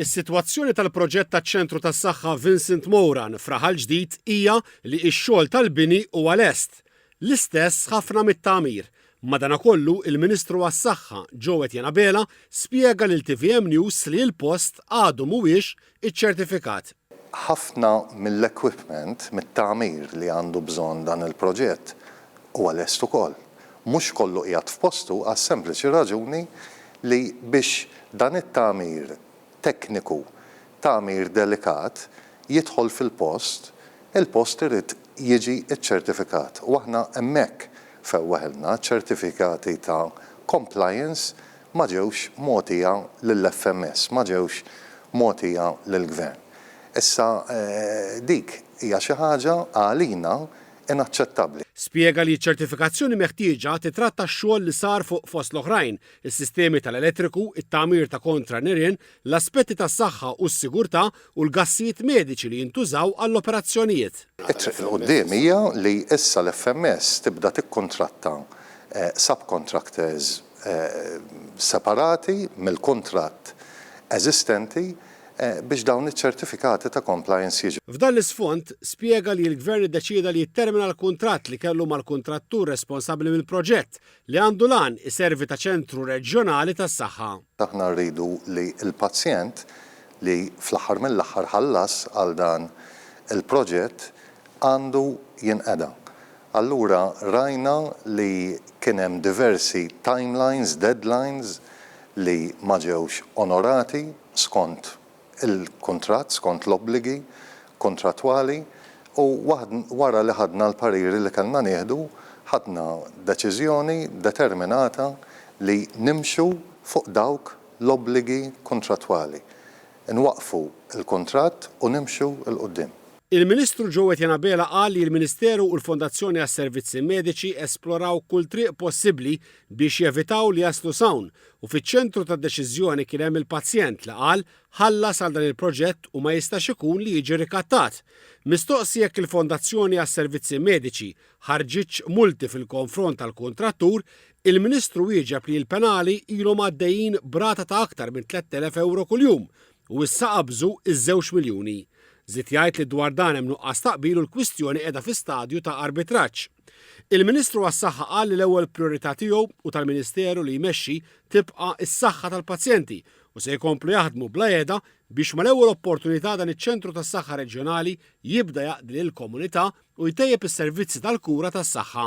Is-sitwazzjoni tal-proġett taċ-Ċentru tas-Saħħa Vincent Moran f'Raħal Ġdid hija li x-xogħol tal-bini huwa lest. L-istess ħafna mit-tagħmir. Madanakollu, il-Ministru għas-Saħħa, Joe Etienne Abela, spjega lil tvm News li l-post għadu mhuwiex iċċertifikat. Ħafna mill-equipment, mit-tagħmir li għandu bżonn dan il-proġett huwa lest ukoll. Mhux kollu qiegħed f'postu għas-sempliċi raġuni li biex dan it-tagħmir tekniku, tagħmir delikat, jidħol fil-post, il-post irid jiġi ċċertifikat u aħna hemmhekk fewwaħilna, ċ-ċertifikati ta' compliance ma ġewx mogħtija lill-FMS, ma ġewx mogħtija lill-Gvern. Issa dik hija xi ħaġa għalina inaċċettabbli. Spjega li ċ-ċertifikazzjoni meħtieġa tittratta x-xogħol li sar fuq fost l-oħrajn, is-sistemi tal-elettriku, it-tagħmir ta' kontra nirien, l-aspetti tas-saħħa u s-sigurtà u l-gassijiet mediċi li jintużaw għall-operazzjonijiet. It-triq 'l quddiem hija li issa l-FMS tibda tikkuntratta subcontractors separati mill-kuntratt eżistenti biex dawn iċ-ċertifikati ta' compliance jiġu. F'dan l-isfond, spjega li l-Gvern iddeċieda li jittermina l-kuntratt li kellu mal-kuntrattur responsabbli mill-proġett, li għandu l-għan iservi ta' ċentru reġjonali tas-saħħa. Aħna rridu li l-pazjent, li fl-aħħar mill-aħħar ħallas għal dan il-proġett, għandu jinqeda. Allura rajna li kien hemm diversi timelines, deadlines li ma ġewx onorati skont il-kuntratt skont l-obbligi kuntrattwali u wara li ħadna l-pariri li kellna nieħdu, ħadna deċiżjoni determinata li nimxu fuq dawk l-obbligi kuntrattwali, inwaqqfu l-kuntratt u nimxu 'l quddiem. Il-Ministru Joe Etienne Abela qal li l-Ministeru u l-Fondazzjoni għas-Servizzi Mediċi esploraw kull triq possibbli biex jevitaw li jaslu s'hawn U fiċ-ċentru tad-deċiżjoni kien hemm il-pazjent li qal ħallas għal dan il-proġett u ma jistax ikun li jiġi rikattat. Mistoqsi jekk il-Fondazzjoni għas-Servizzi Mediċi ħarġitx multi fil-konfront tal-kuntrattur, il-Ministru wieġeb li l-penali ilhom għaddejjin b'rata ta' aktar minn 3,000 ewro kuljum u issa qabżu ż-żewġ miljuni. Żied jgħid li dwar dan hemm nuqqas ta' qbil u l-kwistjoni qiegħda fi stadju ta' arbitraġġ. Il-Ministru għas-Saħħa qal li l-ewwel prijorità tiegħu u tal-Ministeru li jmexxi tibqa' s-saħħa tal-pazjenti u se jkomplu jaħdmu bla għeda biex mal-ewwel opportunità dan iċ-Ċentru tas-Saħħa Reġjonali jibda jaqdi lill-komunità u jtejjeb is-servizzi tal-kura tas-saħħa.